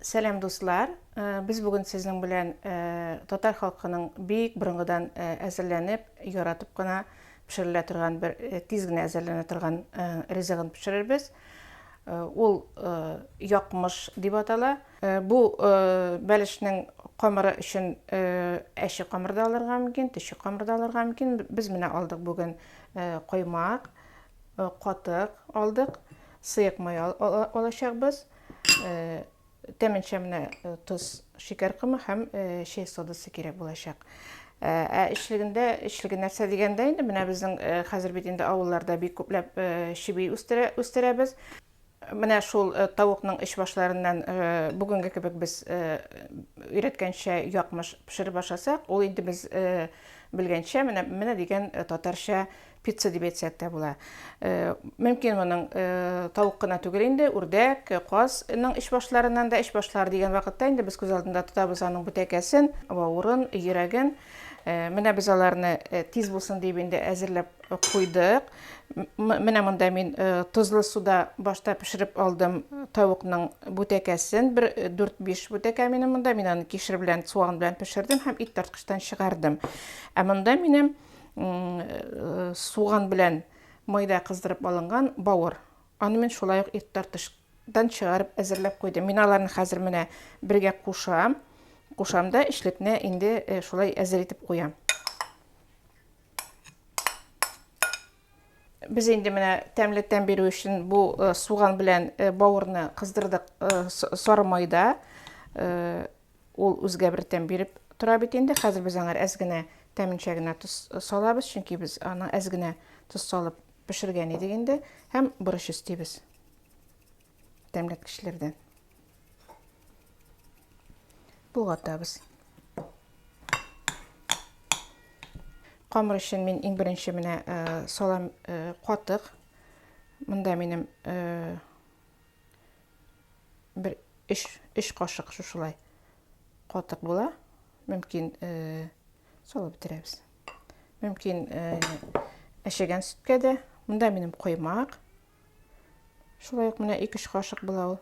Сәлам дуслар! Без бүген сезнең белән татар халкының бик борынгыдан әзерләнеп, яратып кына пешерелә торган бер тиз генә әзерләнә торган ризыгын пешерербез. Ул якмыш дип атала. Бу бәлешнең камыры өчен әче камыр да алырга мөмкин, төче камыр да алырга мөмкин. Без менә алдык бүген коймак, катык алдык, сыек май алачакбыз. э, тәменчә менә э, тоз шикәр комы һәм э, чәй содасы кирәк булачак ә эчлегендә эчлеге нәрсә дигәндә инде менә безнең хәзер бит инде авылларда бик күпләп чеби үстерә үстерәбез менә шул тавыкның эч башларыннан бүгенге кебек без өйрәткәнчә якмыш пешереп ашасак ул инде без белгәнчә менә менә дигән татарча Пицца дип әйтсәк тә була. Мөмкин моның тавык кына түгел инде, үрдәк, казның эч башларыннан да, эч башлары дигән вакытта инде без күз алдында тотабыз аның бүтәкәсен, бавырын, йөрәген. Менә без аларны тиз булсын дип инде әзерләп куйдык. Менә монда мин тозлы суда башта пешереп алдым тавыкның бүтәкәсен. Бер 4-5 бүтәкә минем монда. Мин аны кишер белән, суган белән пешердем һәм ит тарткычтан чыгардым. Ә монда минем э, суган белән майда кыздырып алынган бавыр. Аны мин шулай ук ит тартыштан чыгарып әзерләп куйдым. Мин аларны хәзер менә бергә кушам. Кушам да эшлекне инде э, шулай әзер итеп куям. Без инде менә тәмле тәм бирү өчен бу э, суган белән э, бавырны кыздырдык сары майда. Ул үзгә бер тәм биреп тора бит инде. Хәзер без аңар әз генә тәменчә генә тоз салабыз, чөнки без аны әз генә тоз салып пешергән идек инде һәм борыч өстибез тәмләткечләрдән. Болгатабыз. Камыр өчен мин иң беренче менә салам катык. Монда минем бер өч өч кашык шушылай катык була мөмкин э, салып бетерәбез мөмкин әшегән сөткә дә монда минем коймак шулай ук менә ике өч кашык була ул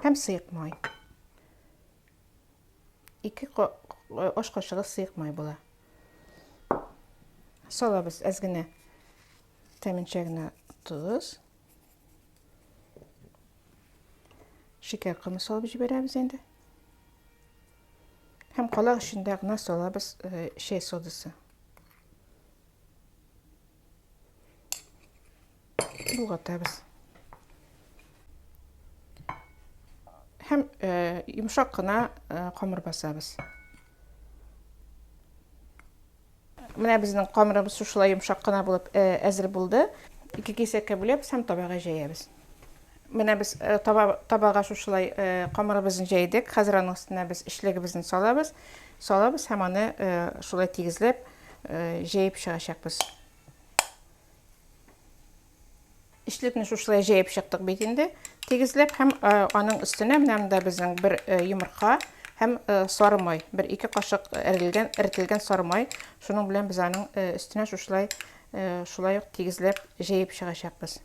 һәм сыек май ике аш кашыгы сыек май була Салабыз әз генә тәменчә генә тоз. Шикәр комы салып җибәрәбез инде. Һәм калак эчендә генә салабыз э, чәй содасы. Болгатабыз. Һәм э, йомшак кына э, камыр басабыз. Менә безнең камырыбыз шушылай йомшак кына булып э, әзер булды. Ике кисәккә бүләбез һәм табага җәябез. Менә без э, таба, табага шушылай э, камырыбызны җәйдек. Хәзер аның өстенә без эчлегебезне салабыз. Салабыз һәм аны э, шулай тигезләп э, җәеп чыгачакбыз. Эчлекне шушылай җәеп чыктык бит инде. Тигезләп һәм э, аның өстенә менә монда безнең бер э, йомырка һәм э, сары май, бер ике кашык эрелгән, эртелгән сары май. Шуның белән без аның өстенә шушылай шулай ук тигезләп җәеп чыгачакбыз.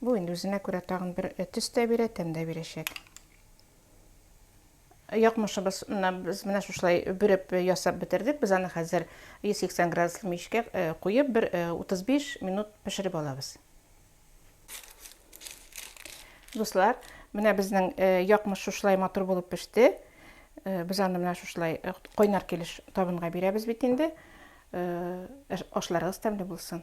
Бу инде үзенә күрә тагын бер төс тә бирә, тәм дә бирәчәк. Якмышыбыз без менә шушылай бөреп ясап бетердек. Без аны хәзер 180 градуслы мичкә куеп, бер 35 минут пешереп алабыз. Дуслар, менә безнең якмыш шушылай матур булып пеште. Без аны менә шушылай кайнар килеш табынга бирәбез бит инде. Ашларыгыз тәмле булсын.